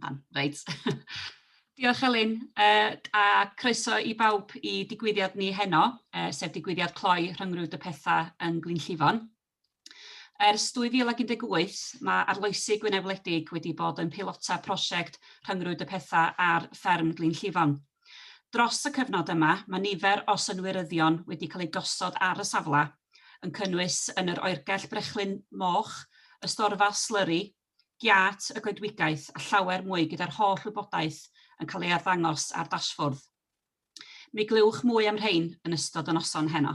Iawn, reit. Diolch Elin, yy a croeso i bawb i digwyddiad ni heno, yy sef digwyddiad cloi rhyngrwyd y pethau yn Glyn Llifon. Ers 2018, mae arloesi Gwynedd Wledig wedi bod yn peilota prosiect rhyngrwyd y pethau ar fferm Glyn Llifon. Dros y cyfnod yma, mae nifer o synwyryddion wedi cael eu gosod ar y safle, yn cynnwys yn yr oergell brechlyn moch, y storfa slyri, giât y goedwigaeth a llawer mwy gyda'r holl wybodaeth yn cael ei arddangos ar dasfwrdd. Mi glywch mwy am rhein yn ystod y noson heno.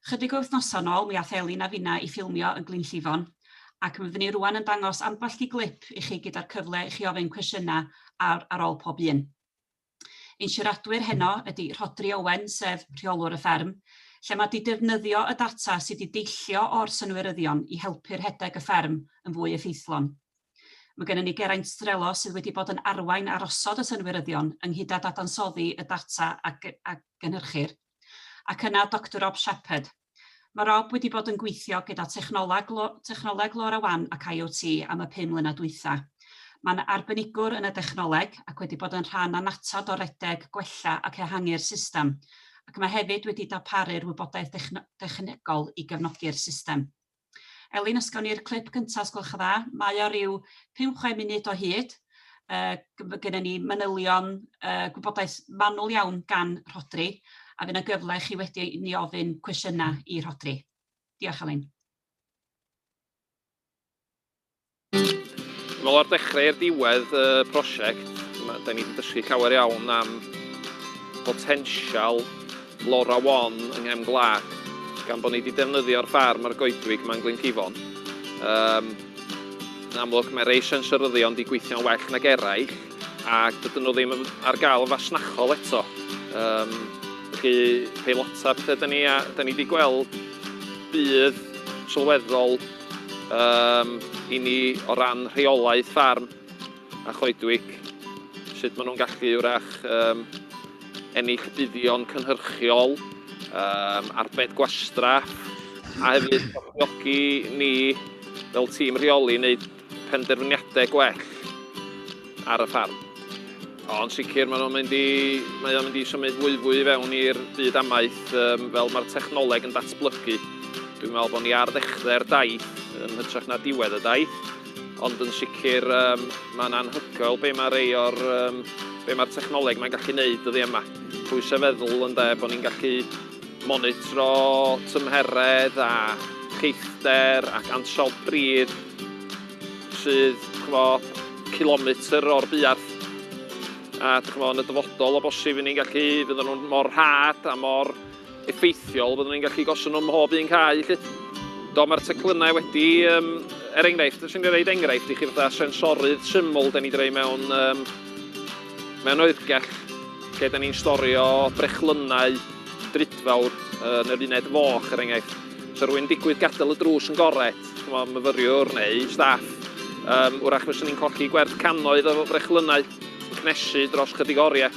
Chydig o wythnosau nôl mi ath Elin a finna i ffilmio yn Glynllifon ac mi fyddwn i rwan yn dangos ambell di glip i chi gyda'r cyfle i chi ofyn cwestiynau ar, ar ôl pob un. Ein siaradwyr heno ydy Rhodri Owen sef rheolwr y fferm, lle mae di defnyddio y data sydd di deillio o'r synwyryddion i helpu rhedeg y fferm yn fwy effeithlon. Mae gennym ni Geraint Strelo sydd wedi bod yn arwain ar osod y synwyryddion ynghyd â dadansoddi y data a, a gynhyrchir. Ac yna Doctor Rob Shepherd. Mae Rob wedi bod yn gweithio gyda technoleg, technoleg LoRaWAN ac IoT am y pum mlynedd dwytha. Mae'n arbenigwr yn y dechnoleg ac wedi bod yn rhan annatod o redeg, gwella ac ehangu'r system, ac mae hefyd wedi darparu'r wybodaeth technegol i gefnogi'r system. Elin, os gawn ni'r clip cynta' os gwelwch yn dda. Mae o ryw 5 chwe munud o hyd. Yy g- ma' gynnon ni manylion yy gwybodaeth manwl iawn gan Rhodri a fy' 'na gyfle i chi wedi i ni ofyn cwestiyna' i Rhodri. Diolch Elin. Wel o'r dechrau i'r diwedd y prosiect, da ni wedi dysgu llawer iawn am botensial Lora Wan yng nghefn gwlad, gan bod ni wedi defnyddio'r ffarm a'r goedwig yma yn Glyncifon. Um, yn amlwg, mae rei sensoryddion wedi gweithio'n well nag eraill, ac dydyn nhw ddim ar gael yn fasnachol eto. Um, felly, peilota pethau da ni, a da ni wedi gweld bydd sylweddol um, i ni o ran rheolaeth ffarm a choedwig, sut maen nhw'n gallu wrach um, ennill buddion cynhyrchiol, um, arbed gwastraff, a hefyd galluogi ni fel tîm rheoli wneud penderfyniadau gwell. ar y ffarm. Ond sicr mae o'n mynd i, mae o'n mynd i symud fwyfwy i fewn i'r byd amaeth um, fel mae'r technoleg yn datblygu. Dwi'n meddwl bod ni ar ddechrau'r daith yn hytrach na diwedd y daith, ond yn sicr um, mae'n anhygoel be mae rei o'r um, be mae'r technoleg mae'n gallu neud ydi yma. Pwy sef feddwl yn de bod ni'n gallu monitro tymheredd a cheithder ac ansawdd bryd sydd, dych ch'mo', cilometr o'r buarth, a dych ch'mo', yn y dyfodol, o bosib, i ni'n gallu, fyddan nhw'n mor rhad a mor effeithiol, fyddwn ni'n gallu gosod nhw mhob un cae, 'lly. Do, mae'r teclynnau wedi, um, er enghraifft, os i'n rhaid enghraifft i chi fatha sensorydd syml, da ni wedi rhoi mewn, um, mewn oergell, lle da ni'n storio brechlynnau drudfawr yn yr uned foch, er enghraifft. So rwy'n digwydd gadael y drws yn gored, chimod, myfyriwr neu staff, um, wrach fyswn ni'n colli gwerth cannoedd o frechlynnau yn cnesu dros chydig oriau.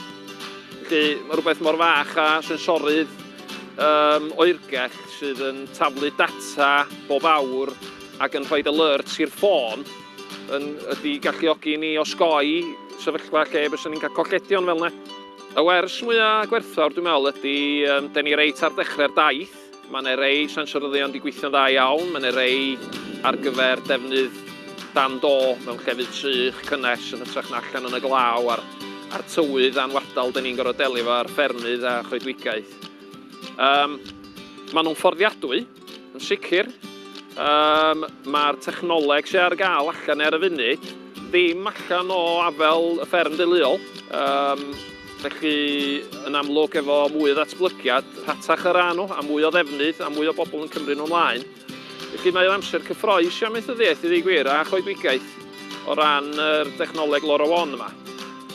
Felly mae rhywbeth mor fach a sensorydd um, oergell sydd yn taflu data bob awr ac yn rhoi alerts i'r ffôn yn, ydy galluogi ni osgoi sefyllfa lle byswn ni'n cael colledion fel yna. Y wers mwyaf gwerthfawr dwi'n meddwl ydy, um, da ni reit ar dechrau'r daith, Mae yna rei siansioryddion wedi gweithio'n dda iawn, mae yna rei ar gyfer defnydd dan do mewn llefydd sych, cynnes, yn hytrach na allan yn y glaw a'r a'r tywydd anwadal 'dan ni'n gorfod delio efo ar ffermydd a choedwigaeth. Yym, maen nhw'n fforddiadwy, yn sicr. Yym, mae'r technoleg sydd ar gael allan ar y funud ddim allan o afel y fferm deuluol. Yym. Felly, yn amlwg, efo mwy o ddatblygiad, rhatach yr â nhw, a mwy o ddefnydd, a mwy o bobl yn cymryd nhw mlaen. Felly mae o'n amser cyffroes i amaethyddiaeth, i ddweud gwir, a choedwigaeth o ran yr dechnoleg LoRaWAN yma.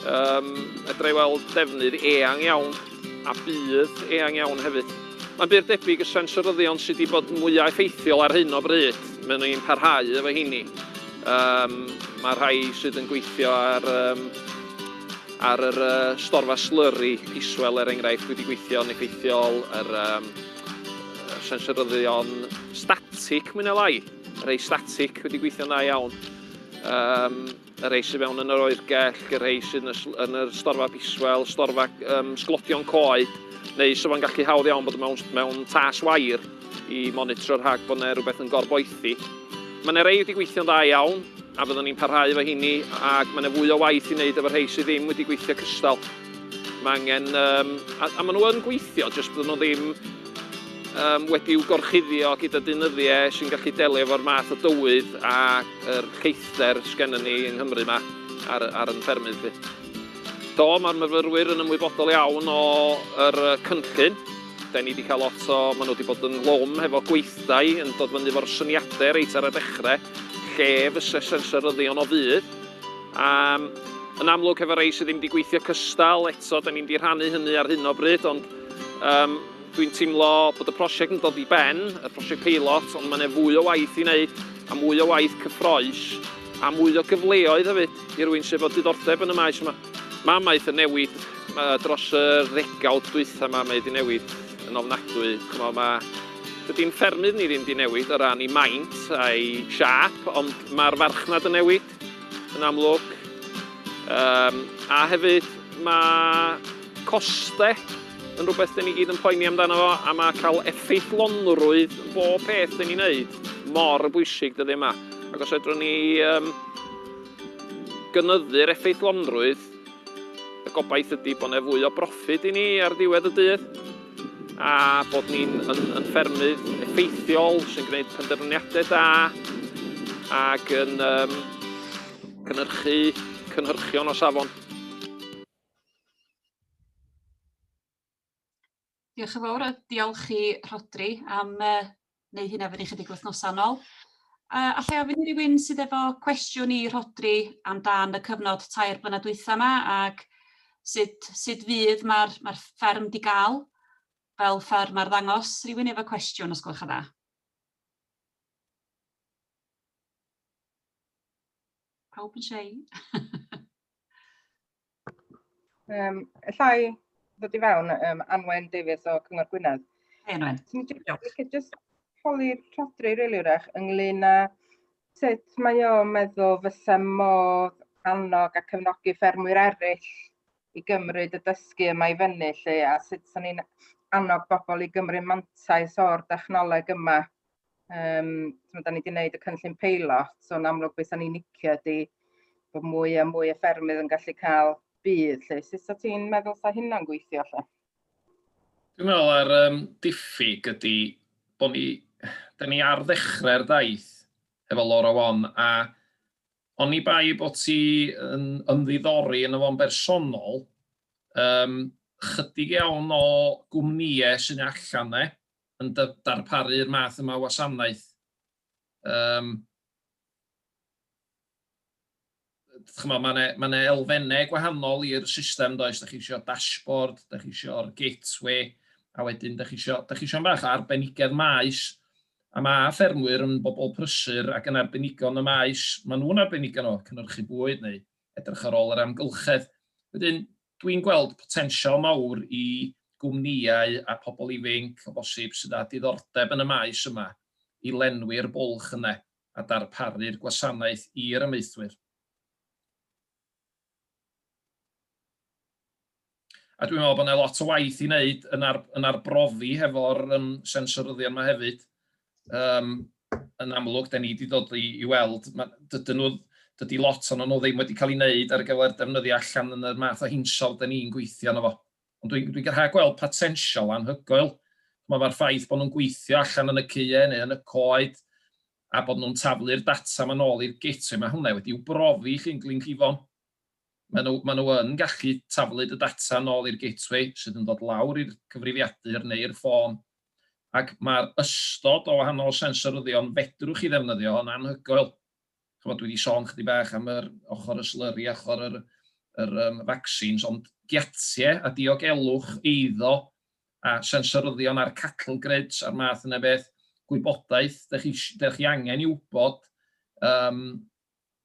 Um, edrych i weld defnydd eang iawn, a bydd eang iawn hefyd. Mae'n bur debyg y sensoryddion sydd wedi bod mwyaf effeithiol ar hyn o bryd, maen nhw'n parhau efo heini. Um, mae rhai sydd yn gweithio ar um, Ar yr uh, storfa slurry, piswell er enghraifft, wedi gweithio'n effeithiol, yr um, sensoryddion static, mwyn elai, rhai static wedi gweithio'n dda iawn. Um, y rei sydd mewn yn yr oergell, y rei sydd yn y storfa biswel, storfa um, sglodion coed, neu sydd o'n gallu hawdd iawn bod mewn, mewn tas wair. i monitro rhag bod yna rhywbeth yn gorboethi. Mae yna rei wedi gweithio'n dda iawn, a fyddwn ni'n parhau efo hini, ac mae yna fwy o waith i wneud efo rhai sydd ddim wedi gweithio cystal. Mae angen, um, a, a maen nhw yn gweithio, jyst byddwn nhw ddim um, wedi'w gorchuddio gyda dynyddiau sy'n gallu delio efo'r math o dywydd a'r lleithder sgennym ni yng Nghymru yma ar, ar yn ffermydd. Fi. Do, mae'r myfyrwyr yn ymwybodol iawn o'r cynllun, 'Da ni 'di cael lot o... Maen nhw 'di bod yn lom hefo gweithdai yn dod fyny efo'r syniadau reit ar y dechrau, lle fyse sensoryddion o fudd. A yn amlwg hefo rei sydd ddim 'di gweithio cystal, eto 'da ni'm 'di rhannu hynny ar hyn o bryd, ond yym dwi'n teimlo bod y prosiect yn dod i ben, y prosiect peilot, ond mae 'na fwy o waith i wneud, a mwy o waith cyffrous, a mwy o gyfleoedd hefyd i rywun sy efo diddordeb yn y maes yma. Mae maeth yn newid, mae dros y ddegawd dwytha mae mae 'di newid yn ofnadwy. Ch'mo' ma'... Dydy'n ffermydd ni ddim 'di newid o ran 'i maint a'i siâp, ond ma'r farchnad yn newid, yn amlwg. Yym, a hefyd ma' coste yn rwbeth 'dyn ni gyd yn poeni amdano fo, a ma' ca'l effeithlonrwydd yn bob peth 'dyn ni'n neud mor bwysig dyddie 'ma. Ac os fedrwn ni yym Gynyddu'r effeithlonrwydd, y gobaith ydi bod 'ne fwy o broffid i ni ar ddiwedd y dydd, a bod ni'n yn yn ffermydd effeithiol sy'n gwneud penderfyniadau da ac yn um, cynhyrchu cynhyrchion o safon. Diolch yn fawr a diolch i Rhodri am uh, neu hynna fyny chydig wythnosau nôl. Uh, allai ofyn i rywun sydd efo cwestiwn i Rhodri amdan y cyfnod tair blynedd dwytha yma ac sut, sut fydd mae'r mae fferm di gael fel fferm ar ddangos rhywun efo cwestiwn os gwelwch yn dda. Pawb yn siarad. Um, Ellai ddod i fewn, um, Anwen Davies o Cyngor Gwynedd. Hei Anwen. Ti'n just holi rhodri rili wrach ynglyn â sut mae o meddwl fysa modd annog a cefnogi ffermwyr eraill i gymryd y dysgu yma i fyny lle a sut sy'n ni'n annog bobl i gymryd mantais o'r dechnoleg yma Um, so, da ni wedi gwneud y cynllun peilot, so yn amlwg beth ni'n nicio ydy bod mwy a mwy o ffermydd yn gallu cael bydd. Lle. Sut o ti'n meddwl sa hynna'n gweithio lle? Dwi'n meddwl ar um, diffyg ydy bod ni, da ni ar ddechrau'r daith efo Laura Wan a Ond ni bai bod ti yn ymddiddori yn y fo'n bersonol, um, chydig iawn o gwmnïau sy'n allan ne, yn darparu'r math yma o wasanaeth, um, chymod, mae yna ma elfennau gwahanol i'r system, does, da chi eisiau dashboard, da chi eisiau'r gateway, a wedyn da chi eisiau, da chi eisiau bach o arbenigedd maes, a mae ffermwyr yn bobl prysur ac yn arbenigo yn y maes, maen nhw'n arbenigo nhw, cynhyrchu bwyd neu edrych ar ôl yr amgylchedd. Wedyn, Dwi'n gweld potensial mawr i gwmnïau a pobl ifainc o bosib sydd â diddordeb yn y maes yma i lenwi'r bwlch yna a darparu'r gwasanaeth i'r amaethwyr. A dwi'n meddwl bod yna lot o waith i wneud yn yn arbrofi hefo'r sensoryddion yma hefyd. um, yn amlwg, da ni wedi dod i, i weld, dydyn nhw, dydy lot o'n nhw ddim wedi cael ei wneud ar gyfer defnyddio allan yn y math o hinsol da ni'n gweithio yno fo. Ond dwi'n dwi, dwi rhaid gweld potensial anhygoel. Mae'r ffaith bod nhw'n gweithio allan yn y CUE neu yn y coed, a bod nhw'n taflu'r data ma'n ôl i'r gateway, mae hwnna wedi'w brofi chi'n Glyn Cifon. maen nhw, maen nhw yn gallu taflu dy data nôl i'r gateway sydd yn dod lawr i'r cyfrifiadur neu'r ffôn. Ac mae'r ystod o wahanol sensoryddion fedrwch chi ddefnyddio yn anhygoel. Chymod, dwi wedi sôn chydig bach am yr ochr y slurry, ochr yr, yr um, vaccines, ond giatie a diogelwch eiddo a sensoryddion a'r cattle grids a'r math yna beth, gwybodaeth, da chi, da chi angen i wybod um,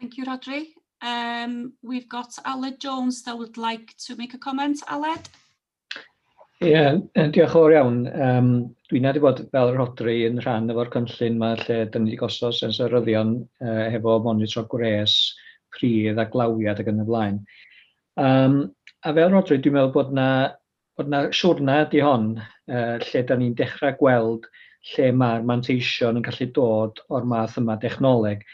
Thank you, Rhodri. Um, we've got Aled Jones that would like to make a comment. Aled? Ie, yeah, diolch o'r iawn. Um, dwi'n nad i bod fel Rodri yn rhan o'r cynllun mae lle dyn ni wedi gosod sensoryddion uh, hefo monitro gwres, pridd a glawiad ac yn y blaen. Um, a fel Rodri, dwi'n meddwl bod yna bod 'na siwrne ydy hon yy lle 'dan ni'n dechra' gweld lle ma'r manteision yn gallu dod o'r math yma dechnoleg.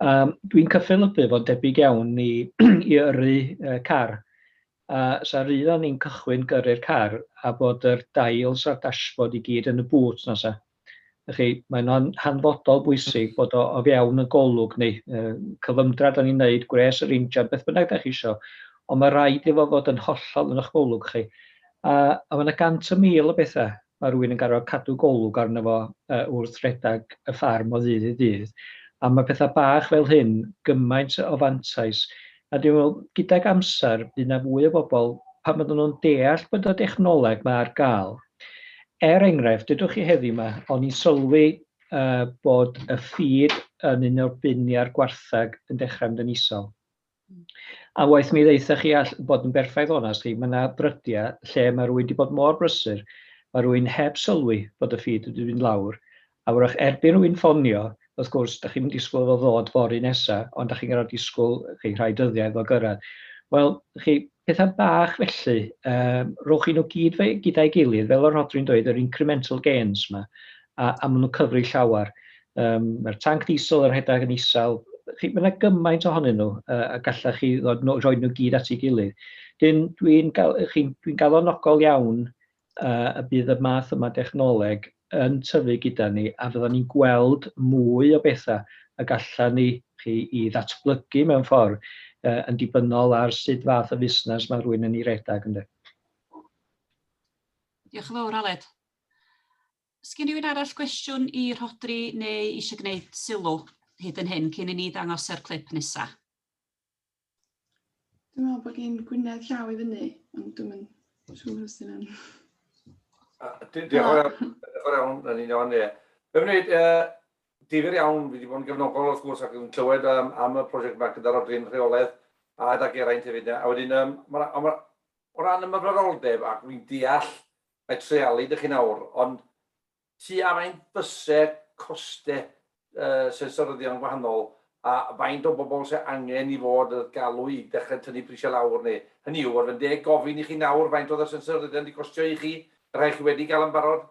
Yym dwi'n cyffelybu fo'n debyg iawn i i yrru yy car a 'sa rydd o'n ni'n cychwyn gyrru'r car a bod yr dails a'r dashboard i gyd yn y bŵt 'na 'sa? Felly, mae yna'n hanfodol bwysig bod o o fewn y golwg neu y cyfymdra da ni'n neud, gwres yr injan, beth bynnag da chi isio, ond mae rhaid iddo fod yn hollol yn eich golwg chi. A, a mae yna gant y mil o bethau mae rhywun yn garfod cadw golwg arno fo uh, wrth redag y ffarm o ddydd i ddydd. A mae pethau bach fel hyn gymaint o fantais A dwi'n meddwl, gydag amser, bydd 'na fwy o bobl, pan fyddan nhw'n deall bod y dechnoleg 'ma ar gael. Er enghraifft, dydwch chi heddiw 'ma, o'n i'n sylwi uh, bod y ffid yn un o'r bin a'r gwartheg yn dechrau mynd yn isol. A waith mi ddeitha chi all bod yn berffaith onast chi, mae yna brydiau lle mae rhywun wedi bod mor brysur, mae rhywun heb sylwi bod y ffid wedi mynd lawr, A wrach erbyn rwy'n ffonio, wrth gwrs, dach chi'm yn disgwyl iddo ddod fory nesa, ond dach chi'n gorfod disgwyl chi rhai dyddiau iddo gyrraedd. Wel, chi, pethau bach felly, um, rhowch chi nhw gyd fe, gyda'i gilydd, fel o'r Rhodri'n dweud, yr incremental gains yma, a, a maen nhw'n cyfri llawer. Um, Mae'r tanc diesel yr rhedeg yn isel, chi, mae yna gymaint ohonyn nhw, uh, a gallach chi ddod, no, rhoi nhw gyd at ei gilydd. Dyn, dwi'n gal, chi'n, dwi'n galonogol iawn y bydd y math yma dechnoleg yn tyfu gyda ni a fyddan ni'n gweld mwy o bethau y gallan ni chi i ddatblygu mewn ffordd uh, yn dibynnol ar sut fath o fusnes mae rhywun yn ei redag ynde. Diolch yn fawr Aled. Sgyn rhywun arall gwestiwn i Rhodri neu eisiau gwneud sylw hyd yn hyn cyn i ni ddangos yr clip nesaf? Dwi'n meddwl bod gen Gwynedd llaw i fyny, ond dwi'n mynd siŵr os yna. Diolch yn iawn, yn un o'n ie. Fe wneud, difyr iawn, fi wedi bod yn gefnogol wrth gwrs ac yn clywed um, am y prosiect yma gyda'r odrin rheoledd a gyda Geraint hefyd. A wedyn, um, ma, ma, o ran ymwybyddoldeb ac fi'n deall mae treialu dych chi'n awr, ond Ti ar ein byser coste sensoryddion gwahanol a faint o bobl sydd angen i fod yn galw i dechrau tynnu prisiau lawr neu, hynny yw, ar fy ndeg gofyn i chi nawr faint oedd y sensoryddion wedi costio i chi, y rhai chi wedi gael yn barod,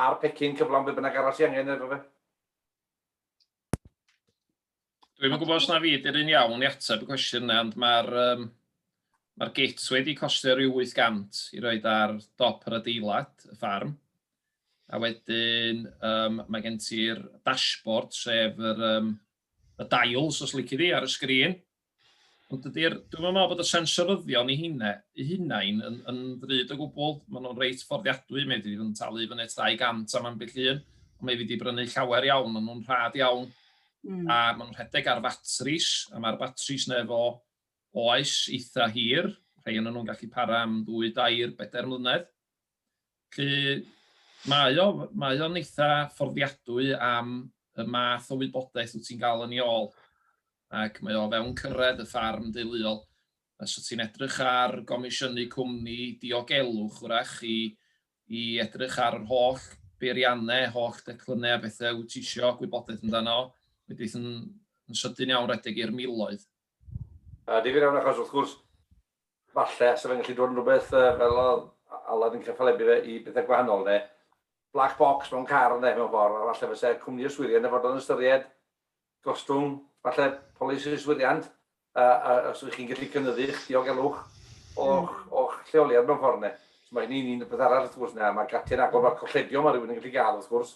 a'r pecyn cyflawn be bynnag arall sydd angen efo fe? Dwi'n yn gwybod os na fi ydy'r un iawn i ateb y cwestiwn yna, ond mae'r um, ma git wedi costio rhyw 800 i roed ar dop yr adeilad, y ffarm. A wedyn um, mae gen ti'r dashboard, sef yr, um, y dials, os lyci di, ar y sgrin. Ond dydy'r, dwi'n meddwl bod y sensoryddion i hynna, i hunain yn, yn ddrud o gwbl. Maen nhw'n reit fforddiadwy, mae wedi yn talu fyny 200 am ambell un, ond mae wedi brynu llawer iawn, maen nhw'n rhad iawn, mm. a maen nhw'n rhedeg ar fatris, a mae'r batris neu fo oes eitha hir, rhai yn nhw'n gallu para am ddwy, dair, bedair mlynedd. Felly, mae o, mae o'n eitha fforddiadwy am y math o wybodaeth wyt ti'n gael yn ei ôl, ac mae o fewn cyrraedd y ffarm deuluol. Os wyt ti'n edrych ar gomisiynu cwmni diogelwch, wrach, i, i edrych ar yr holl beiriannau, holl declynnau a bethau wyt ti eisiau gwybodaeth amdano, wedyn yn, yn sydyn iawn redeg i'r miloedd. Yy difyr iawn achos wrth gwrs falle sa fe'n gallu dod yn rhywbeth yy fel o'dd Aled yn cyffalebu fe i bethe gwahanol ne' black box mewn car ynde mewn ffor a falle fyse cwmni yswiriant yn fod yn ystyried gostwng falle polisi yswiriant yy a os ych chi'n gallu cynyddu'ch diogelwch o'ch o'ch lleoliad mewn ffor ne'. So ma' hynny'n un peth arall wrth gwrs ne' a ma' gate'n agor ma' colledion ma' rywun yn gallu ga'l wrth gwrs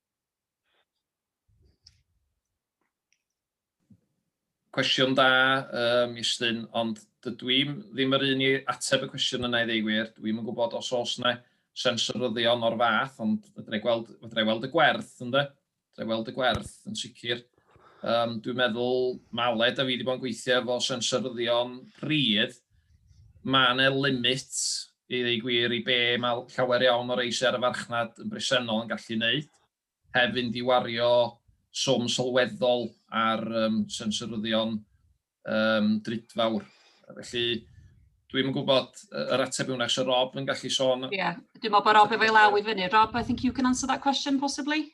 Cwestiwn da, um, Iestyn, ond dydw i ddim yr un i ateb y cwestiwn yna i ddeu gwir. Dwi ddim yn gwybod os oes yna sensoryddion o'r fath, ond fydra i gweld, fydra i weld y gwerth, ynddo? Fydra i weld y gwerth, yn sicr. Um, dwi'n meddwl, Maled a fi wedi bod yn gweithio efo sensoryddion pridd, mae yna limit I ddweud y gwir, i be mae llawer iawn o rei sy ar y farchnad yn bresennol yn gallu wneud, heb fynd i wario swm sylweddol ar um, sensoryddion um, drudfawr. Felly, dwi'm yn gwybod yr ateb yw'n eich Rob yn gallu sôn. Ie, yeah. dwi'n meddwl bod Rob efo'i law i fyny. Rob, I think you can answer that question possibly.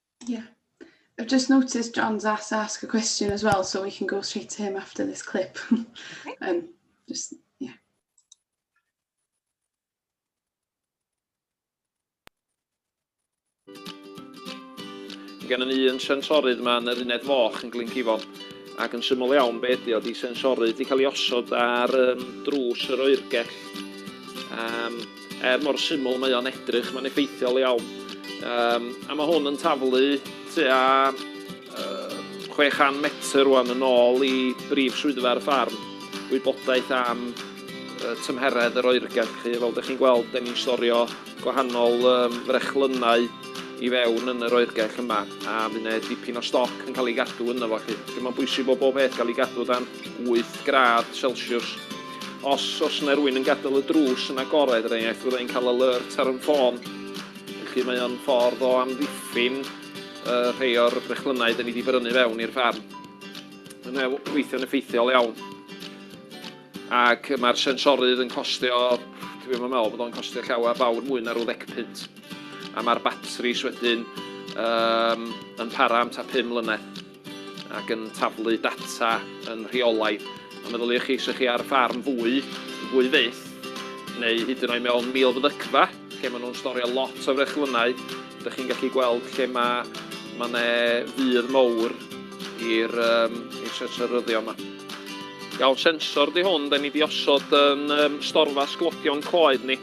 Yeah. I've just noticed John's asked to ask a question as well, so we can go straight to him after this clip. um, just, yeah. Gan yn un sensorydd mae'n yr uned foch yn Glyngifon ac yn syml iawn be ydi o, di sensorydd wedi cael ei osod ar um, drws yr oergell um, Er mor syml mae o'n edrych, mae'n effeithiol iawn. Um, a mae hwn yn taflu tua uh, 600 metr rwan yn ôl i brif swyddfa'r ffarm. Wybodaeth am uh, tymheredd yr oergell chi. Fel ydych chi'n gweld, da ni'n storio gwahanol um, frechlynnau i fewn yn yr oergell yma a mae yna dipyn o stoc yn cael ei gadw yna fo chi. Mae'n bwysig bod bob peth cael ei gadw dan 8 gradd Celsius Os oes yna rywun yn gadael y drws yn agored, er enghraifft, fydda i'n cael alert ar 'y ffôn. Felly mae o'n ffordd o amddiffyn uh, rhai o'r brechlynnau da ni wedi brynu fewn i'r ffarm. Mae'n e- weithio'n effeithiol iawn. Ac mae'r sensorydd yn costio, dwi ddim yn meddwl bod o'n costio llawer fawr mwy na rhyw ddeg punt. A mae'r batris wedyn um, yn para am ta 5 mlynedd. ac yn taflu data yn rheolaidd. A meddyliwch chi, se chi ar ffarm fwy, fwy fyth, neu hyd yn oed mewn milfyddygfa, lle maen nhw'n storio lot o frechlynnau, dych chi'n gallu gweld lle mae ma ne fydd mowr i'r um, sensoryddio yma. Iawn, sensor di hwn, da ni di osod yn um, storfa sglodion coed ni.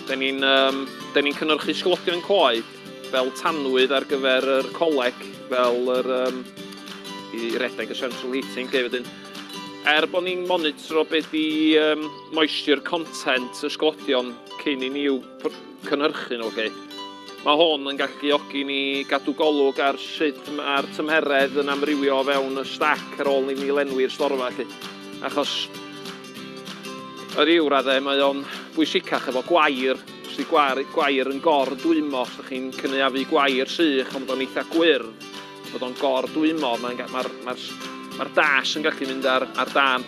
Da ni'n um, ni cynhyrchu sglodion coed fel tanwydd ar gyfer yr coleg, fel yr, um, i redeg y central heating, lle wedyn. Er bod ni'n monitro be di um, moisture content y sglodion cyn i ni i'w cynhyrchu nhw, chi. Mae hwn yn galluogi ni gadw golwg ar sut mae'r tymheredd yn amrywio o fewn y stac ar ôl i ni lenwi'r storfa, chi. Achos, yr i'w raddau, mae o'n bwysicach efo gwair Os ydy gwar- gwair yn gor-dwymo, os ydych chi'n cynaeafu gwair sych ond bod o'n eitha' gwyrdd, bod o'n gor-dwymo, mae'n ga- mae'r mae'r s- mae'r dash yn gallu mynd ar ar dân.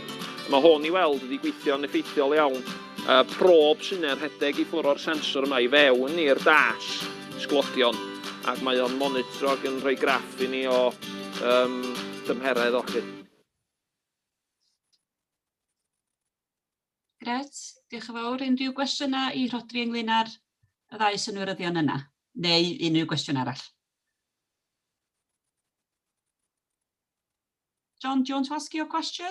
Mae hwn i weld wedi gweithio'n effeithiol iawn. Y prob sy'n neu'r rhedeg i ffwrdd o'r sensor yma i fewn i'r dash, sglodion, ac mae o'n monitro ac yn rhoi graff i ni o yym dymheredd o 'lly. Gret, diolch yn fawr. Unrhyw gwestiynau i Rhodri ynglyn â'r y ddau synwyryddion yna, neu unrhyw gwestiwn arall? John, do you want to ask your question?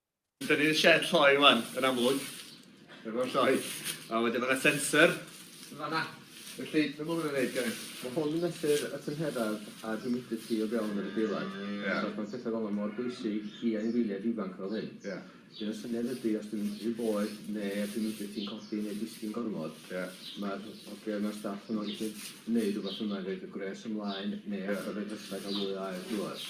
Dyna ni'r sied lloi wan, yn amlwg. Efo'r lloi. A wedyn mae'na sensor yn fanna. Felly, be mae hwn yn neud, Geraint? Mae hwn yn mesur y tymheredd a'r humidity o fewn yr adeilad. Ie. So conceptau fel 'na mor bwysig i anifeiliaid ifanc fel hyn. Ie. Felly y syniad ydi os dwi'n mynd rhy boeth ne'r humidity'n codi neu disgyn gormod... Ie. ...ma'r hogia ma'r staff yma'n gallu neud rwbath yma i roid y gwres ymlaen neu... Ie. ...adal y drysau ga'l mwy o aer drwodd.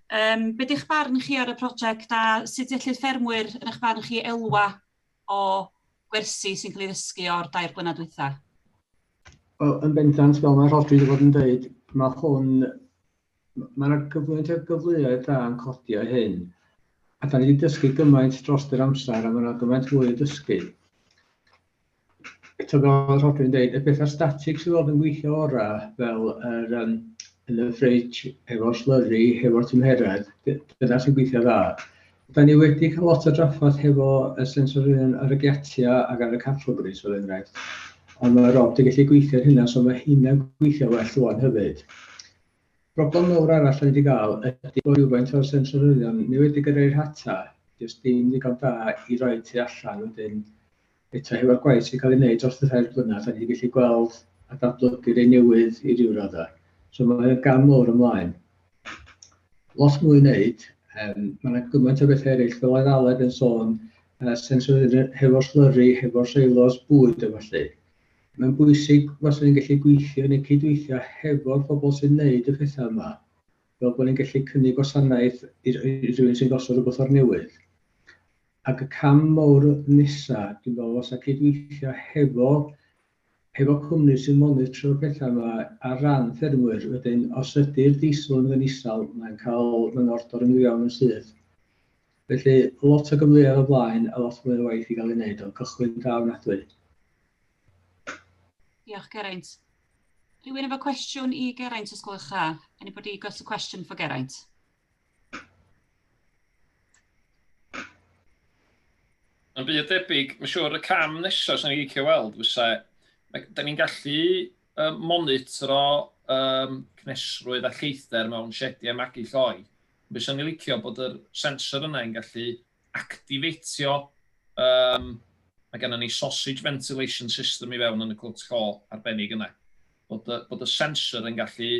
Yym, be di'ch barn chi ar y prosiect a sut ellid ffermwyr, yn eich barn chi, elwa o gwersi sy'n cael ei ddysgu o'r dair blynedd dwytha? Wel, yn bendant, fel mae Rhodri wedi bod yn dweud, mae hwn, mae yna gyflwynt o gyfleoedd da yn codi o hyn. A da ni wedi dysgu gymaint dros yr amser a mae yna gymaint fwy i ddysgu. Tybed fel Rhodri'n dweud, y pethau static sydd fod yn gweithio orau, fel yr, um, yn y ffridge, efo'r slurry, efo'r tymheredd, dyna sy'n gweithio dda. Da ni wedi cael lot o draffaeth hefo y sensorion ar y giatia ac ar y catalyst, fel enghraifft. Ond mae Rob wedi gallu gweithio hynna, so mae hynna'n gweithio well rwan hefyd. Problem mawr arall ni wedi cael ydy bod rhywfaint o'r sensorion ni wedi gyrraedd rhata, jyst dim ddigon da i roi tu allan wedyn eto hefo'r gwaith sy'n cael ei wneud dros y rhai blynedd, da ni wedi gallu gweld a datblygu rei newydd i ryw raddau. So mae o'n gam mawr ymlaen. Lot mwy wneud, um, mae yna gymaint o bethau eraill, fel oedd Aled yn sôn, uh, sensorydd hefo'r slurry, hefo'r seilos bwyd a falle. Mae'n bwysig os ni'n gallu gweithio neu cydweithio hefo'r pobl sy'n wneud y pethau yma, fel bod ni'n gallu cynnig gwasanaeth i, i rhywun sy'n gosod rhywbeth o'r newydd. Ac y cam mowr nesa, dwi'n meddwl, fasa cydweithio hefo hefo cwmni sy'n monitro'r petha 'ma ar ran ffermwyr. Wedyn, os ydi'r diesel yn mynd isal, mae'n cael mae'n ordor yn mynd i fewn yn syth. Felly, lot o gyfleoedd o blaen a lot mwy o waith i gael ei wneud, ond cychwyn da ofnadwy. Diolch, Geraint. Rhywun efo cwestiwn i Geraint, os gwelwch dda? Anybody got a question for Geraint? Yn byd debyg, mae'n siŵr y cam nesaf sy'n ei cael weld fysa, da ni'n gallu um, monitro um, cnesrwydd a lleithdder mewn siediau magu lloi. Bys yn ei licio bod yr sensor yna yn gallu actifeitio, um, mae gennym ni sausage ventilation system i fewn yn y cwt co arbennig yna. Bod y, bod y sensor yn gallu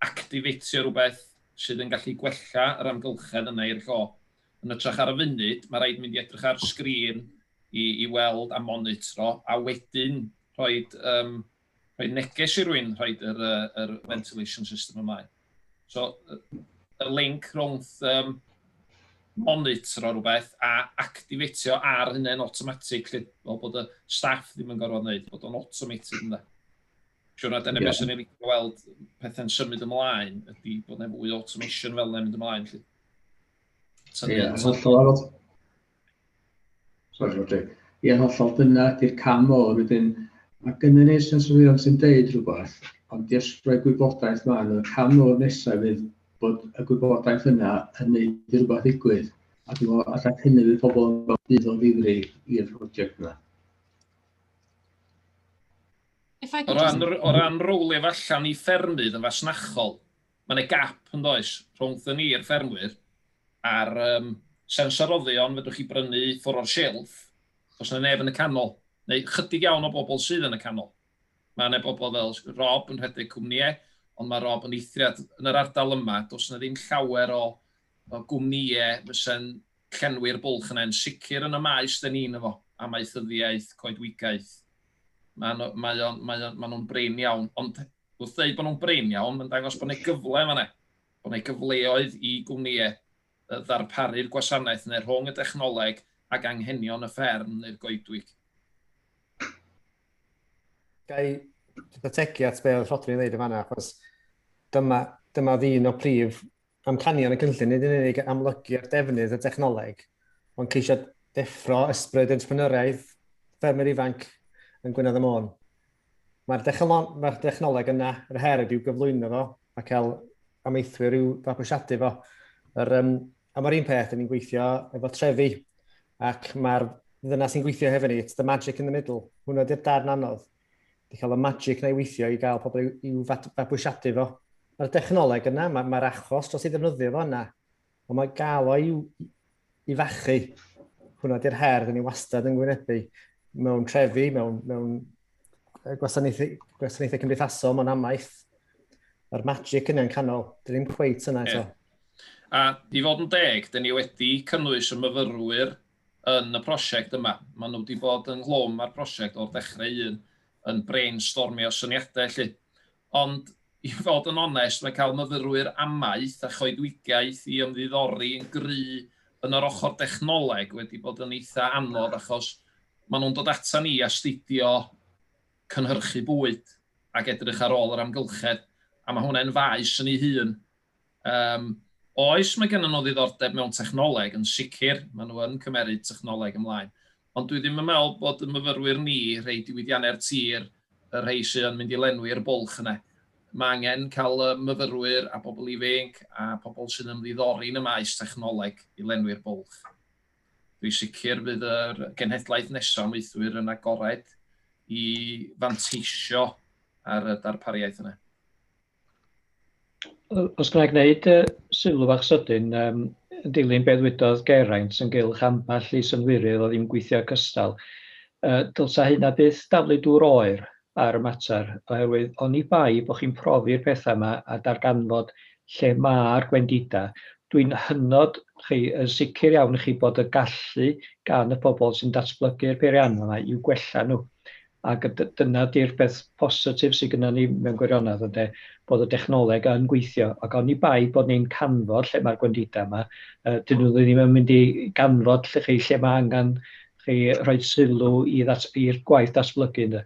actifeitio rhywbeth sydd yn gallu gwella yr amgylchedd yna i'r co. Yn ytrach ar y funud, mae rhaid mynd i edrych ar sgrin i, i weld a monitro, a wedyn rhoi um, rhoi neges i rwy'n rhaid yr, uh, yr ventilation system ymlaen. So, y link rhwng um, monitro rhywbeth a activatio ar hynny'n automatic, lle, fel bod y staff ddim yn gorfod wneud, bod o'n automated yna. Siwr na dyna yeah. beth sy'n ei licio weld pethau'n symud ymlaen, ydy bod yna fwy automation fel yna'n mynd ymlaen. Ie, yeah, hollol. Sori, Rodri. Ie, hollol, dyna di'r cam mor wedyn. Mae gynnu ni sensorion sy'n deud rhywbeth, ond jyst rhoi gwybodaeth maen nhw. Y cam mor nesaf fydd bod y gwybodaeth yna yn gwneud rhywbeth ddigwydd. A dwi'n meddwl, allai hynny fydd pobl yn gweld bydd o ddifri i'r prosiect yna. O ran, o ran rowlio allan i ffermydd yn fasnachol, Mae yna gap yn does rhwngthyn ni i'r ffermwyr a'r um, sensoroddion fedrwch chi brynu ffwr o'r shelf, os yna neb yn y canol, neu chydig iawn o bobl sydd yn y canol. Mae yna bobl fel Rob yn rhedeg cwmnïau, ond mae Rob yn eithriad yn yr ardal yma, does yna ddim llawer o, o gwmnïau fysa'n llenwi'r bwlch yna, yn sicr yn y maes dyn ni'n efo, amaethyddiaeth, coedwigaeth. Mae, mae, mae, mae nhw'n brin iawn, ond Wrth ddeud bod nhw'n brin iawn, mae'n dangos bod yna gyfle fan'na, bod yna gyfleoedd i gwmnïau ddarparu'r gwasanaeth yna rhwng y dechnoleg ac anghenion y fferm neu'r goedwig. Ga i ategu at be oedd Rhodri'n ddeud yn fan'na, achos dyma, dyma oedd un o prif Amcanion y cynllun nid yn unig amlygu ar defnydd y dechnoleg, ond ceisio deffro ysbryd entrepreneuriaeth ffermwyr ifanc yn Gwynedd y Môn. Mae'r mae dechnoleg yna, yr her ydyw gyflwyno fo a cael amaethwyr i'w fabwysiadu fo. Yr, um, a mae'r un peth, ni'n gweithio efo trefi, ac mae'r ddyna sy'n gweithio hefyd ni, it's the magic in the middle, hwnna ydy'r darn anodd. Di cael y magic na i weithio i gael pobl i'w fabwysiadu fo. Mae'r dechnoleg yna, mae'r mae achos dros ei ddefnyddio fo yna, ond mae gael o i'w i fachu. Hwna di'r her, dyn ni wastad yn gwynebu mewn trefi, mewn, mewn gwasanaethau, gwasanaethau cymdeithasol, mewn amaeth. Mae'r magic yna'n canol, dyn ni'n cweit yna eto. Yeah. A i fod yn deg, dyn ni wedi cynnwys y myfyrwyr yn y prosiect yma. Maen nhw wedi bod yng nghlwm â'r prosiect o'r dechrau un, yn brainstormio syniadau 'lly. Ond i fod yn onest, mae cael myfyrwyr amaeth a choedwigaeth i ymddiddori yn gry yn yr ochr dechnoleg wedi bod yn eitha' anodd achos maen nhw'n dod ata ni astudio cynhyrchu bwyd ac edrych ar ôl yr amgylchedd a mae hwnne'n faes yn ei hun. Yym, oes, mae gennym nhw ddiddordeb mewn technoleg, yn sicr, maen nhw yn cymeryd technoleg ymlaen. Ond dwi ddim yn meddwl bod y myfyrwyr ni, rhei diwydiannau'r tir, y rhei sydd yn mynd i lenwi'r bwlch yna. Mae angen cael y myfyrwyr a bobl ifainc a pobl sy'n ymddiddori yn y maes technoleg i lenwi'r bwlch. Dwi sicr fydd yr genhedlaeth nesaf o maethwyr yn agored i fanteisio ar y darpariaeth yna. Os ga i wneud yy sylw fach sydyn yym yn dilyn be ddwydodd Geraint ynghylch ambell i synhwyrydd oedd ddim yn gweithio cystal yy dylsa hynna byth daflu dŵr oer ar y mater oherwydd oni bai bo' chi'n profi'r petha 'ma a darganfod lle ma'r gwendida dwi'n hynod chi yn sicr iawn i chi bod y gallu gan y pobol sy'n datblygu'r peirianna 'ma i'w gwella nhw Ac dyna 'di'r peth positif sydd gynnon ni mewn gwirionedd ynde, bod y dechnoleg yn gweithio, ac oni bai bod ni'n canfod lle mae'r gwendidau 'ma, yy 'dyn nhw ddim yn mynd i ganfod 'lly chi lle ma' angan chi rhoid sylw i ddat- i'r gwaith datblygu ynde.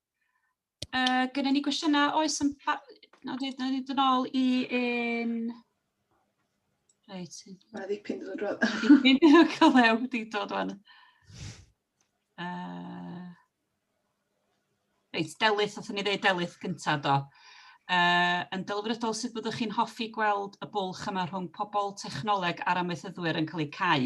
Uh, Gynnu ni gwestiynau, oes yn... Na, dwi wedi dod ôl i un... Reit. Mae ddipyn dod drwy. Ddipyn dod drwy, wedi dod o'n. Uh, reit, Delyth, oedd ni ddeud Delyth gyntaf do. Uh, yn delfrydol sut byddwch chi'n hoffi gweld y bwlch yma rhwng pobl, technoleg a'r amaethyddwyr yn cael eu cau?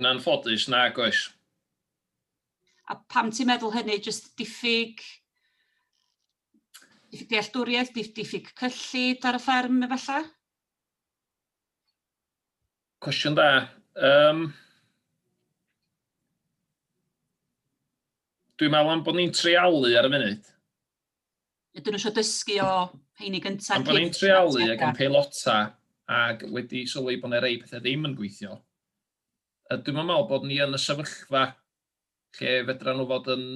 Yn anffodus, nag oes. A pam ti'n meddwl hynny? Just diffyg, diffyg dealltwriaeth, diffyg cyllid ar y fferm efallai? Cwestiwn da. Um, Dwi'n meddwl am bod ni'n treialu ar y funud. Ydyn nhw eisiau dysgu o heini gyntaf? Ond bod ni'n treoli ac yn peilota ac wedi sylwi bod yna rei pethau ddim yn gweithio, a dwi'n meddwl bod ni yn y sefyllfa lle fedra nhw fod yn,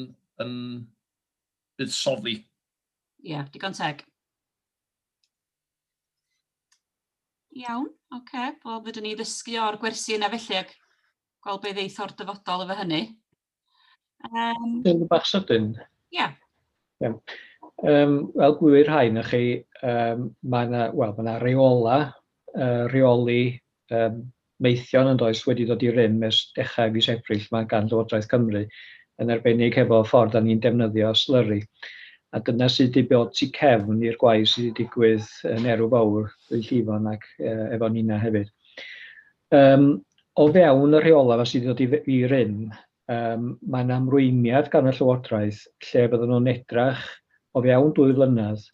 yn buddsoddi. Ie, yeah, digon teg. Iawn, oce. Okay. Wel, fydden ni ddysgu o'r gwersi yna felly ac gweld beth ddeith o'r dyfodol efo hynny. Um, Yn bach sydyn. Ie. Yeah. Yeah. Um, wel, gwir rhai na chi, um, mae yna well, ma reola, uh, reoli um, meithion yn does wedi dod i rym ers dechrau fis Ebrill mae gan Llywodraeth Cymru yn arbennig hefo ffordd a ni'n defnyddio slyru. A dyna sydd wedi bod tu cefn i'r gwaith sydd wedi digwydd yn Erw Fawr, Ddwy Llifon ac uh, efo Nina hefyd. Yym o fewn y rheolau 'ma sy' 'di dod i f- i rym yym ma' 'na ymrwymiad gan y Llywodraeth lle fyddan nhw'n edrach o fewn dwy flynedd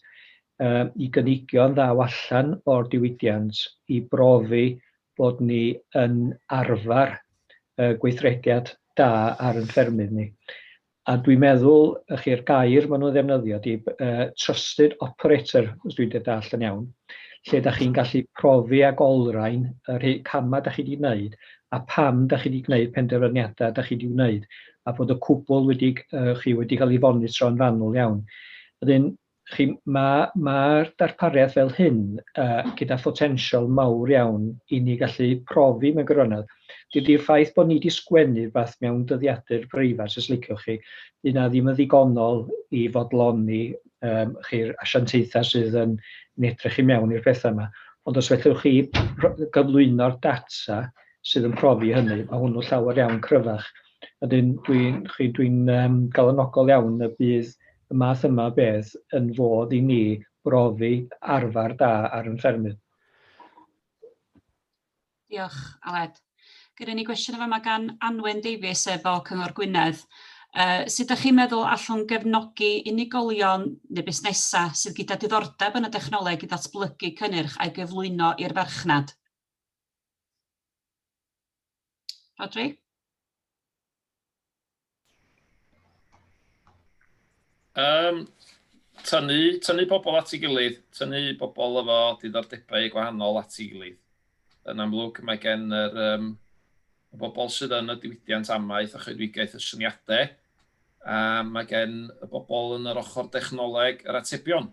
yy i gynigion ddaw allan o'r diwydiant i brofi bod ni yn arfer yy gweithrediad da ar ein ffermydd ni. A dwi'n meddwl, y'ch chi'r gair maen nhw'n ddefnyddio ydy yy trusted operator, os dwi'n dy dallt yn iawn, lle dach chi'n gallu profi ac olrhain y rhei camau dach chi wedi gwneud a pam dach chi wedi gwneud penderfyniadau dach chi wedi gwneud a bod y cwbl wedi, y'ch chi, wedi cael ei fonitro yn fanwl iawn. Wedyn, Chi, ma' ma'r darpariaeth fel hyn yy gyda photensial mawr iawn i ni gallu profi mewn gwirionedd. Dydi'r ffaith bod ni 'di sgwennu rwbath mewn dyddiadur breifat os liciwch chi, 'di hynna ddim yn ddigonol i fodloni yym chi'r asiantaethau sydd yn yn edrych i mewn i'r pethau 'ma. Ond os fedrwch chi gyflwyno'r data sydd yn profi hynny, ma' hwnnw llawer iawn cryfach. Wedyn dwi'n chi dwi'n yym galonogol iawn y bydd y math yma o beth yn fodd i ni brofi arfer da ar yn ffermydd. Diolch, Aled. Gyda ni gwestiwn yn fama gan Anwen Davies sef o Cyngor Gwynedd. Uh, sut ydych chi'n meddwl allwn gefnogi unigolion neu busnesau sydd gyda diddordeb yn y dechnoleg i ddatblygu cynnyrch a'i gyflwyno i'r farchnad? Rodri? Um, tynnu, tynnu pobl at ei gilydd, tynnu pobl efo diddordebau gwahanol at ei gilydd. Yn amlwg, mae gen yr um, y bobl sydd yn y diwydiant amaeth a choedwigaeth y syniadau, a mae gen y bobl yn yr ochr dechnoleg yr atebion.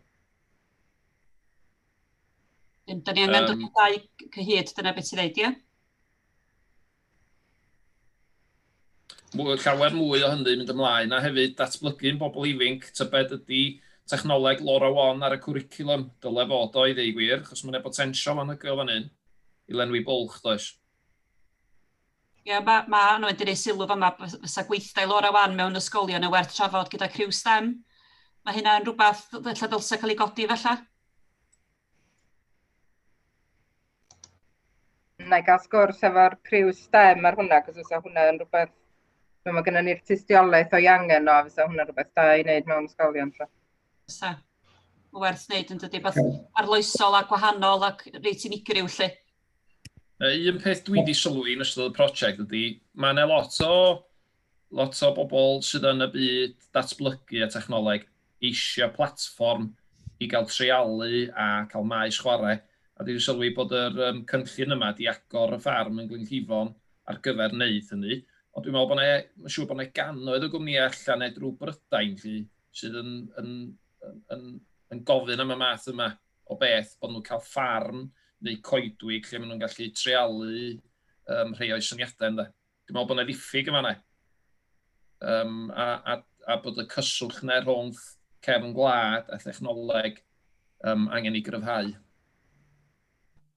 Dim, da ni angen um, dod dau cyhyd, dyna beth ti'n dweud, ie? llawer mwy o hynny mynd ymlaen, a hefyd datblygu'n bobl ifinc, tybed ydy technoleg Laura One ar y cwricilwm, dyle fod o i ddeu gwir, chos mae'n e potensial anhygoel fan hyn i lenwi bwlch, does? Ie, ma' ma' Anna wedi rhoi sylw fama, fys- fysa gweithdai Laura wan mewn ysgolion yn werth trafod gyda criw stem. Mae hynna'n rhywbeth dd- ella ddylse cael ei godi falle? Na i gael sgwrs efo'r criw stem ar hwnna, cos fysa hwnna yn rhywbeth... Mae ma gennym ni'r tystiolaeth o'i angen o, a fysa hwnna rhywbeth da i wneud mewn ysgolion. So. Fysa. Werth wneud yn dydy, beth arloesol a gwahanol ac reit unigryw lle. Un peth dwi 'di sylwi yn ystod y prosiect ydy, ma' 'na lot o, lot o bobl sydd yn y byd datblygu a technoleg eisiau platfform i gael treialu a cael maes chwarae, a dwi 'di sylwi bod yr um, cynllun yma 'di agor y ffarm yn Glynllifon ar gyfer wneud hynny. Ond dwi'n meddwl bod 'na, mae'n siŵr bod 'na gannoedd o gwmnïau allan neu drwy Brydain lly, sydd yn, yn, yn, yn, yn gofyn am y math yma o beth bod nhw'n cael ffarm neu coedwig lle maen nhw'n gallu treialu um, rhai o'i syniadau ynddo. Dwi'n meddwl bod yna ddiffyg yn fanna. Um, a, a, a bod y cyswllt yna rhwng cefn gwlad a thechnoleg um, angen ei gryfhau.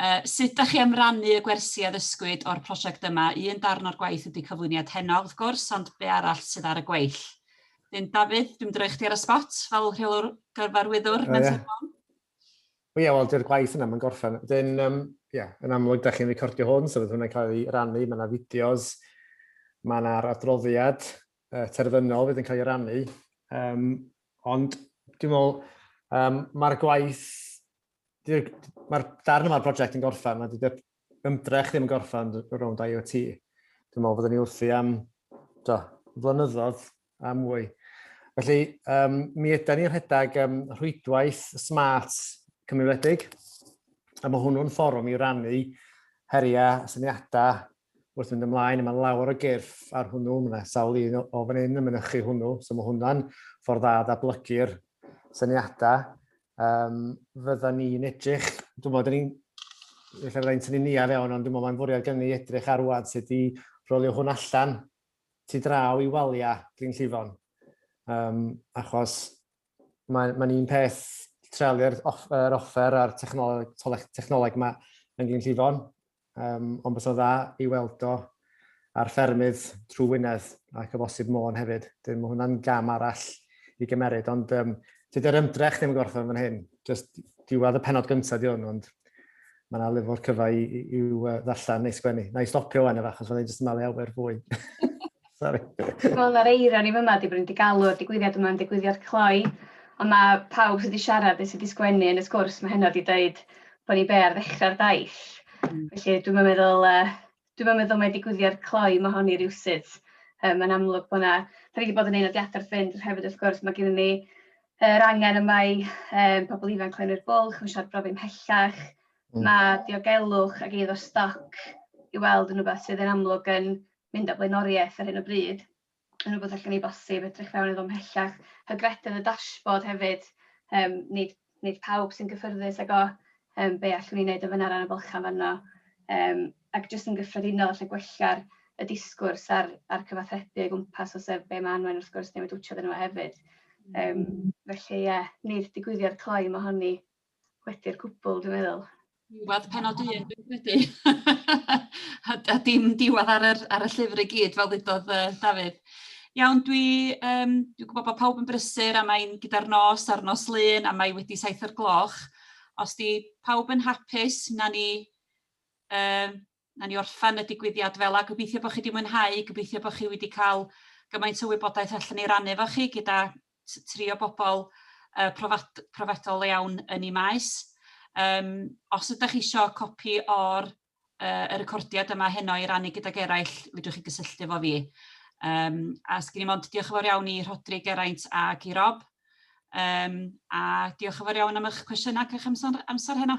Uh, sut da chi am rannu y gwersi a ddysgwyd o'r prosiect yma? Un darn o'r gwaith ydy cyflwyniad heno, wrth gwrs, ond be arall sydd ar y gweill? Dyn Dafydd, dwi'n droi chdi ar y spot fel rheolwr gyfarwyddwr. Uh, yeah. Wel, ie, wel, dy'r gwaith yna, mae'n gorffen. Dyn, um, yeah, yn amlwg, da chi'n recordio hwn, so fydd hwnna'n cael ei rannu, mae yna fideos, mae yna'r adroddiad uh, terfynol fydd yn cael ei rannu. Um, ond, dwi'n meddwl, um, mae'r gwaith mae'r darn yma'r brosiect yn gorffen, mae dydy'r ymdrech ddim yn gorffen o rownd IoT. Dwi'n meddwl fydden ni wrthi am do, flynyddoedd a mwy. Felly, um, mi ydy'n ni'n rhedeg um, rhwydwaith smart cymunedig, a mae hwnnw'n fforwm i rannu heriau, syniadau, wrth fynd ymlaen a mae lawer o gyrff ar hwnnw, mae 'na sawl un o fan hyn yn mynychu hwnnw, so mae hwnna'n ffordd dda o ddatblygu'r syniadau. Um, fydda ni'n edrych, dwi'n meddwl, ni'n lle fydda ni'n tynnu niaf iawn, ond dwi'n meddwl mae'n fwriad gen ni edrych ar wad sut i rolio hwn allan tu draw i waliau Glyn Llifon. Um, achos mae'n mae un peth treuliau'r off, er offer a'r technoleg, technoleg yma yn Glyn Llifon, um, ond bys o dda i weld o ar ffermydd trwy Wynedd ac o bosib Môn hefyd. Dyn, mae hwnna'n gam arall i gymeryd, ond um, tydy'r ymdrech ddim yn gorffen fan hyn. Just diwedd y penod gyntaf di hwn, ond mae yna lyfr cyfa i, i, i uh, ddarllen neu sgwennu. Na i stopio fan efo, achos mae'n jyst yn malu awer fwy. Sorry. Wel, mae'r eira ni fyma, di bod wedi galw'r digwyddiad yma'n digwyddiad cloi, ond mae pawb sydd wedi siarad neu sydd wedi sgwennu yn y sgwrs mae heno wedi dweud bod ni be ar ddechrau'r daith. Mm. Felly dwi'n meddwl uh, dwi'm yn meddwl mai digwyddiad cloi ma' hon i rywsut. Yym mae'n amlwg bo' 'na... 'dan ni 'di bod yn neud nodiada wrth fynd ond hefyd wrth gwrs ma' gennyn ni yr angen yma i yym pobol ifanc lenwi'r bwlch, ma' siŵr brofi ymhellach, ma' diogelwch ag eiddo stoc i weld yn rwbeth sydd yn amlwg yn mynd â blaenoriaeth ar hyn o bryd. yn rhywbeth allan ni bosib edrych fewn iddo mhellach. Hygrededd y dashboard hefyd, um, nid, nid pawb sy'n gyffyrddus ag o um, be allwn ni wneud yn fyna ran y bylchau fanno. Um, ac jyst yn gyffredinol allai gwella'r y disgwrs a'r, ar cyfathrebu o gwmpas o sef be mae anwen wrth gwrs newid wtiodd yn yma hefyd. Um, felly ie, yeah, nid digwyddiad cloi mae honni. wedi'r cwbl dwi'n meddwl. Diwedd penod un dwi'n credu. a, a dim diwedd ar, yr, ar y llyfr i gyd fel ddudodd uh, Dafydd. Iawn, dwi, um, dwi'n gwybod bod pawb yn brysur a mae'n gyda'r nos a'r nos lun a mae wedi saith o'r gloch. Os di pawb yn hapus, na ni um, Nawn ni orffen y digwyddiad fel 'a. Gobeithio bod chi wedi mwynhau, gobeithio bod chi wedi cael gymaint o wybodaeth allan ni rannu efo chi gyda tri o bobl uh, profad, profedol iawn yn ei maes. Um, os ydych chi eisiau copi o'r uh, y recordiad yma heno i rannu gydag eraill, fydwch chi gysylltu efo fi. Um, a sgyn i mond diolch yn fawr iawn i Rhodri, Geraint ac i Rob. Um, a diolch yn fawr iawn am eich cwestiynau ac eich amser, amser heno.